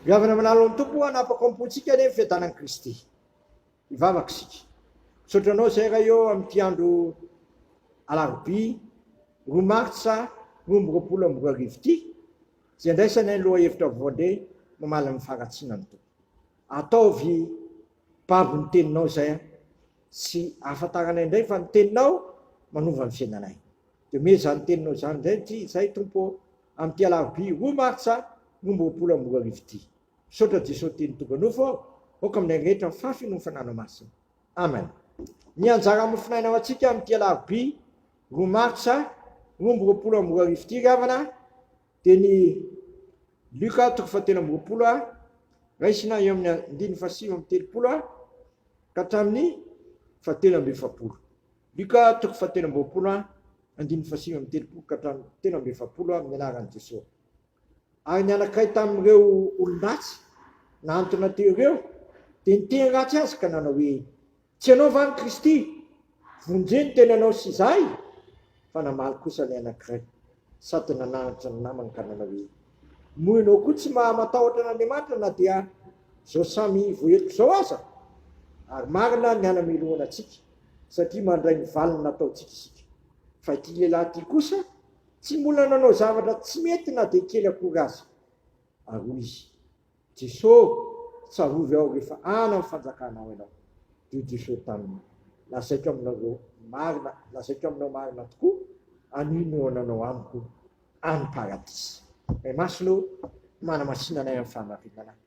Goavana amin'ny lalan'ny Tompo hanapaka ao am-pontsika anie ny fiadanan'i Kristy. Hivavaka isika. Misaotra anao Izay Ray ô amin'ity andro alarobia roa martsa roa amby roapolo amby roa arivo ity izay andraisanay ny lohahevitra voandre mamaly ny faharatsiana ny Tompo. Ataovy babo ny teninao Izay a! Tsy ahafantaranay indray fa ny teninao manova ny fiainanay. Dia omeo izany teninao izany indray Izay Tompo ô Amin'ity alarobia roa martsa roa amby roapolo amby roa arivo ity. Misaotra Jesoa Teny Tonga Nofo aho, aoka aminay rehetra ny fahafeno ny Fananao Masina. Amen. Ny anjara mofonaina ho antsika amin'ity alarobia roa martsa roa amby roapolo amby roa arivo ity ry havana dia ny Luka toko fahatelo amby roapolo a, raisina eo amin'ny andininy fahasivy amby telopolo a ka hatramin'ny fahatelo amby efapolo. Luka toko fahatelo amby roapolo a Andininy fahasivy amby telopolo ka hatramin'ny telo amby efapolo amin'ny anaran'i Jesoa. Ary ny anankiray tamin'ireo olon-dratsy nahantona teo ireo dia niteny ratsy azy ka nanao hoe, Tsy ianao va ny Kristy? Vonjeo ny tenanao sy izahy! Fa namaly kosa ilay anankiray sady nananatra ny namany ka nanao hoe, Moa ianao koa tsy maha-matahotra an'Andriamanitra na dia izao samy voaheloka izao aza? Ary marina ny hanamelohana antsika. satria mandray ny valiny nataontsika isika. Fa ity lehilahy ity kosa tsy mbola nanao zavatra tsy mety na dia kely akory aza. Ary hoy izy, Jeso, tsarovy aho rehefa any amin'ny fanjakanao ianao. Dia Jeso taminy, Lazaiko aminareo marina, lazaiko aminao marina tokoa, anio no hananao amiko any paradisa. May Masina ô, manamasina anay amin'ny fahamarinana.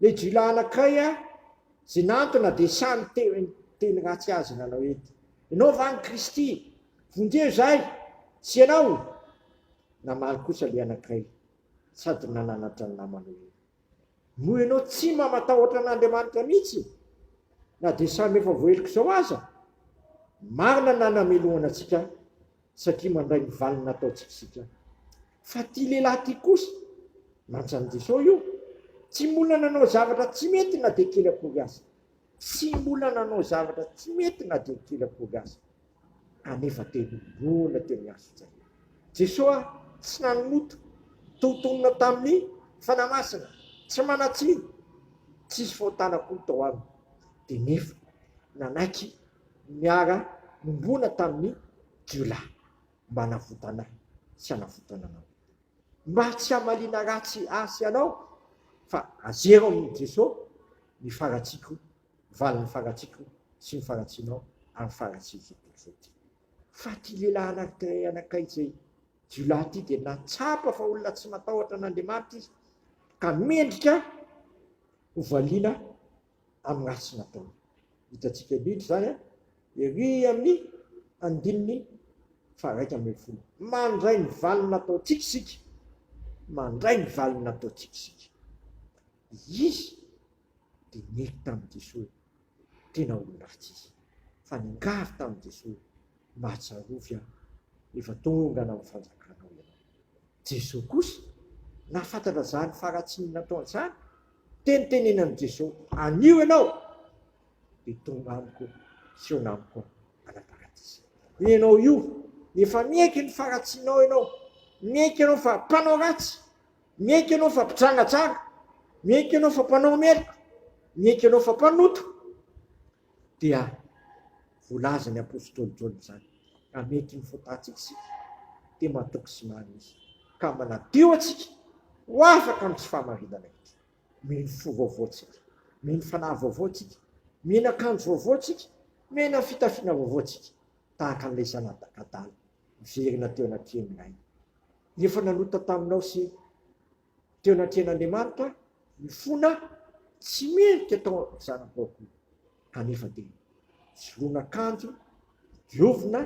Le jila anakay a ze nantona de sa niteny teny ratsy azy nanao ety enao va ny kristy vonjeo zay tsy enao namaly kosa le anakay sady nananatra ny namany oe noho enao tsy mba matahotra an'andriamanitra mitsy na de samy efa voaheloka zao aza marina na namelohana atsika satria mandray ny valiny nataontsika isika. Fa ity lehilahy ity kosa, nantsan'i Jesosy io, tsy mbola nanao zavatra tsy mety na dia kely akory aza. Tsy mbola nanao zavatra tsy mety na dia kely akory aza. Anefa te hinoana teo amin'ny hazon-tsaina. Jesosy ah, tsy nanota, toa tonona tamin'ny Fanahy Masina, tsy manan-tsiny, tsisy fahotana akory tao aminy. Dia nefa nanaiky niara-nombona tamin'ny jiolahy mba hanavotana ahy sy hanavotana anao. Mba tsy hamaliana ratsy ahy sy anao, fa azero amin'i Jesosy ny faharatsiako, valin'ny faharatsiako sy ny faharatsianao ary ny faharatsian'ny tontolo izao ity. Fa ity lehilahy anankiray anakay izay jiolahy ity dia nahatsapa fa olona tsy matahotra an'Andriamanitra izy, ka mendrika hovaliana amin'ny ratsy nataony. Hitantsika indrindra izany an, ery amin'ny andininy faharaika ambin'ny folo. Mandray ny valiny nataontsika isika, mandray ny valiny nataontsika isika. Izy dia nety tamin'i Jesoa, tena olon-dratsy izy, fa ningary tamin'i Jesoa, Mahatsiarovy aho, efa tonga any amin'ny fanjakanao ianao. Jesoa kosa nahafantatra izany faharatsiany nataony izany, dia nitenenan'i Jesoa, Anio ianao dia tonga amiko sy hihaona amiko any paradisa. Ianao io, efa miaiky ny faharatsianao ianao, miaiky ianao fa mpanao ratsy, miaiky ianao fa mpidrangajanga, miaiky ianao fa mpanao meloka, miaiky ianao fa mpanota, dia volazin' ny apostoly Jaona izany ka mety ny fotantsika isika dia matoky sy manisa ka manadio antsika ho afaka amin' ny tsy fahamarinana inty. Mino fo vaovao tsika, mino fanahy vaovao tsika, mino akanjo vaovao tsika, mena fitafiana vaovao tsika, tahaka an'ilay zanadakadala miverina teo anatrehan' ny rainy, efa nanota taminao sy teo anatrehan'Andriamanitra mifona tsy mendrika tao amin'ny zana-baoky kanefa dia nisoloana akanjo diovina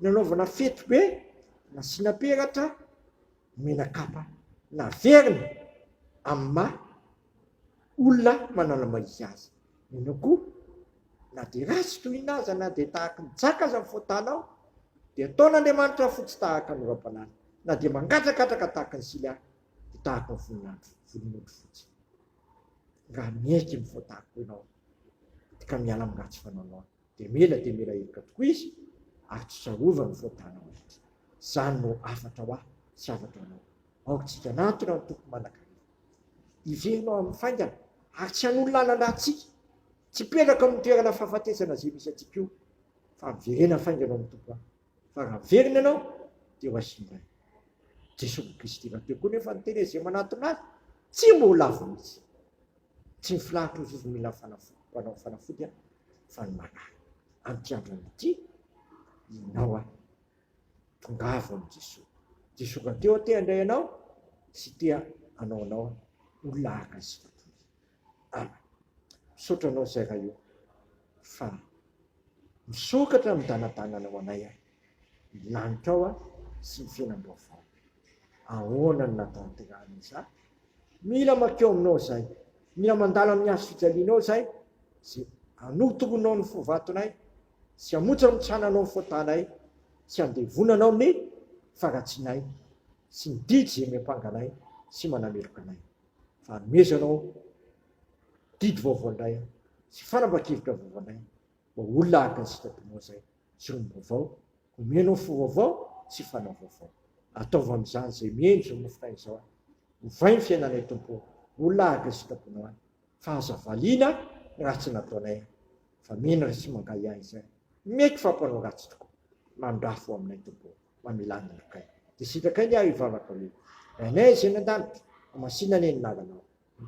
nanaovana fety be nasiana peratra nomena kapa naverina amin'ny maha Olona manala mahia aza. Mino koa, na dia ratsy toy inona aza, na dia tahaky ny jaka aza ny fahotanao, dia ataon'Andriamanitra fotsy tahaka ny oram-panala, na dia mangadragadraka tahaky ny sily aza, dia tahaky ny voninandro, volon'ondry fotsy. Raha miaiky ny fahotanko ianao, ka miala amin'ny ratsy fanaonao, Dia mila dia mila heloka tokoa izy ary tsy tsarovany ny faotanao rehetra. Izany no hafatra ho ahy sy hafatra ho anao. Aoka isika hanatona ny Tompo manankarena hiverina ao amin'ny faingana ary tsy hanolo lalana antsika, tsy hipetraka ao amin'ny toerana fahafatesana izay misy antsika io, fa miverena faingana ao amin'ny Tompo aho, fa raha miverina ianao dia ho azy indray. Jesosy Kristy rahateo koa nefa niteny an'izay manatona Azy, tsy mba ho lavo mihitsy. Tsy ny filahatr'io vovony mila ny fanafody, mpanao fanafody aho, fa ny marary. Amin'ity andron'ny ity, ianao aho. Tongavo amin'i Jesoa. Jesoa ka teo aho te handray anao sy te hanao anao aho olona araka ny sitrapony. Amen. Misaotra anao Zay Ray o, fa misokatra amin'ny danadananao anay aho. ny lanitrao sy ny fiainam-baovao. Ahoana no nahatanterahana izany? Mila mankeo aminao izay, mila mandalo amin'ny hazo fijalianao izay, izay hanotoronao ny fo vatonay sy hamontsamotsana anao ny fotanay sy handevonanao ny faharatsianay sy ny didy izay miampanga anay sy manameloka anay, fa hanomezanao didy vaovao indray sy fanapahan-kevitra vaovao indray mba ho olona araka ny sitraponao izay. Jirony vaovao, omena ofo vaovao sy fanao vaovao. Ataovy amin'izany izay miheno izao mofonay izao aho. Ovay ny fiainanay Tompo ô, ho lahaga sitraponao ahy, fa aza valiana ny ratsy nataonay aho, fa mino ary tsy mangahy ahy izay mety fa mpanao ratsy tokoa. Mandrafo ho aminay Tompo ô, mamela ny lokay. Dia sitrakay ny ahy hivavaka hoe, Rainay izay any an-danitra, hamasinanay ny anaranao.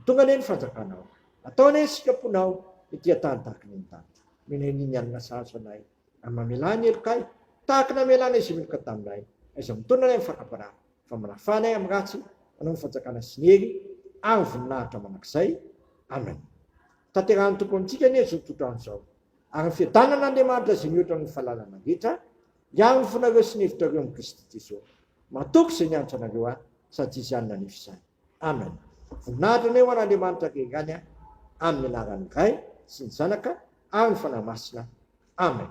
Tonga anie ny fanjakanao. Atao anie ny sitraponao ety an-tany tahaka ny any danitra. Menay ny nianina sahaza anay, ary mamelà ny helokay tahaka ny amelanay izay meloka taminay. Aiza mitondra anay ny fakam-panahy, fa manafà anay amin'ny ratsy, anao ny fanjakana sy ny hery ary ny voninahitra mandrakizay. Amen. Tanterahin'ny Tompo amintsika anie izao tohotr'andro izao, ary ny fiadanan'Andriamanitra izay mihoatra ny fahalalana rehetra, hiaro ny fonareo sy ny hevitrareo amin'i Kristy Jesoa. Matoky izay nianatra anareo ahy, sady tsy hisy hany nanefy izany. Amen voninahitra anao ary Andriamanitra Gengany a amin'ny anaran'ny Ray sy ny Zanaka ary ny Fanahy Masina Amen.